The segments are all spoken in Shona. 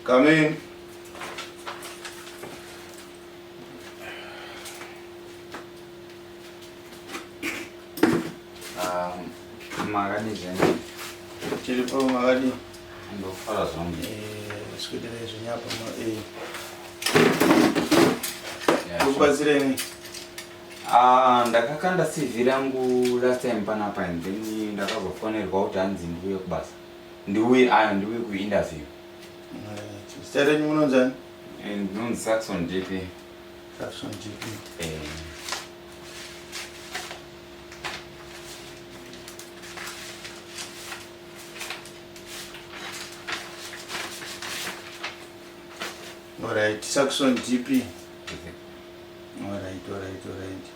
Come in. Um, makadii zvenyu? Tiri po makadii? Ndofara zvangu. Eh, sikuitirei zvenyu apa ma eh. Kubatsireni. Ah, ndakakanda CV rangu last time panapa and then ndakazofonerwa kuti hanzi ndiuye kubasa. Ndiuye ayo ndiuye ku interview. Zita renyu munonzani? Eh, ndinonzi Saxon JP. Saxon JP. Eh. Alright, Saxon JP. Alright, alright, alright.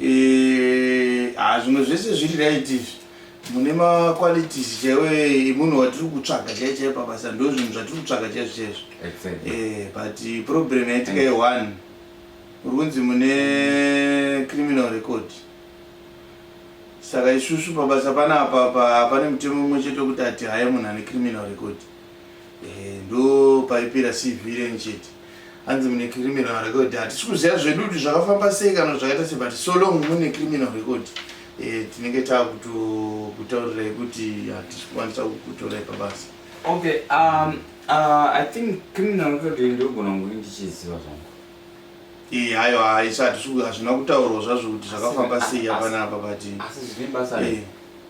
Eh, ah zvimwe zvese zviri right izvi. mune maqualities chewe munhu watiri kutsvaga chaiye chaiye pabasa ndo zvinhu zvatiri kutsvaga chaizvo chaizvo exactly. eh, but problem yaitika ye one uri kunzi mune criminal record saka isusu pabasa panapa pane mutemo umwe chete wekuti ati haye munhu ane criminal record Eh, ndo paipera CV renyu chete. Hanzi mune criminal record. Hatisi kuziva zvedu kuti zvakafamba sei kana zvakaita sei but so long mune criminal record. Eh, tinenge takutaurirai kuti hatisi kukwanisa kukutorai pabasa. Okay, um, uh, I think criminal record ndogona kunge ndichiziva zvangu. Eh, hayo haisati hazvina kutaurwa zvazvo kuti zvakafamba sei hapana apa but. Asi zvine basa. Eh.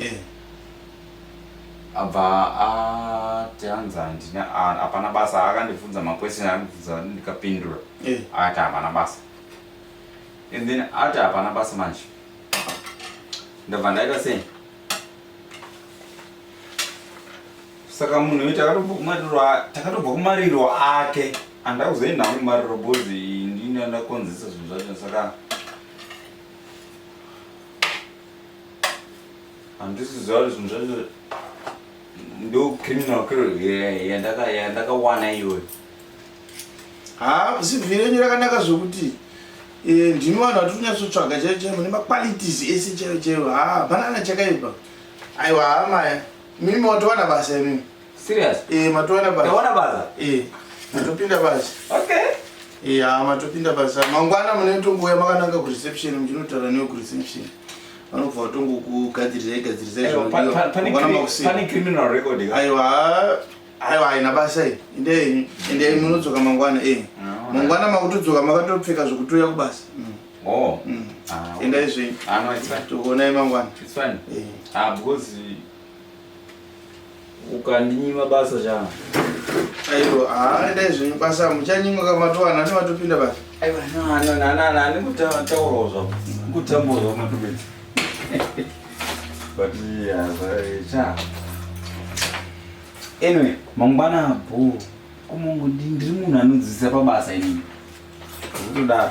Eh. abva ati hanzi handina ah, hapana basa akandibvunza maquestion akandibvunza ndikapindura Eh. akati hapana basa and then ati hapana basa manje ndabva ndaita sei saka munhu uyu takatobva kumariro a- takatobva kumariro ake andida kuzoenda hangu kumariro bhozi ndini andakonzesa zvinhu zvacho saka handisi zvauri zvinhu zvacho ndo criminal yandakawana iyoyo ha zivhire nyu rakanaka zvokuti eh, ndimi vanhu vatiri kunyatsotsvaga chaivo chaivo nemaqualities ese chaivo chaivo ha hapana kana chakaipa aiwa hamaya mimi watowana basa imimi Serious? Eh, matowana basa. Tawana basa. Eh. Matopinda basa. Okay. Eh, ah, matopinda basa. Mangwana mune tongo ya makananga ku reception, mjinotaura newe ku reception. Vanobva vatongo kugadzirisa igadzirisa izvo. Pane criminal record. Aiwa. Aiwa, haina basa iyi. Inde inde munodzoka mangwana eh. Ah, mangwana makutodzoka makatopfeka zvokutouya kubasa. Mm. Oh. Mm. Ah, enda izvi. Ah, no, it's fine. Tokuonai mangwana. It's fine. Eh. Ah, because ukandinyima basa chana aiwa haa endai zvenyu basa muchanyimwa kamatowana ane matopinda basa aiwa nani kutaurawo zvavo kutambawo zvavo matopedza but cha anyway mangwana bho kumongo ndiri munhu anodzidzisa pabasa inini kutodaro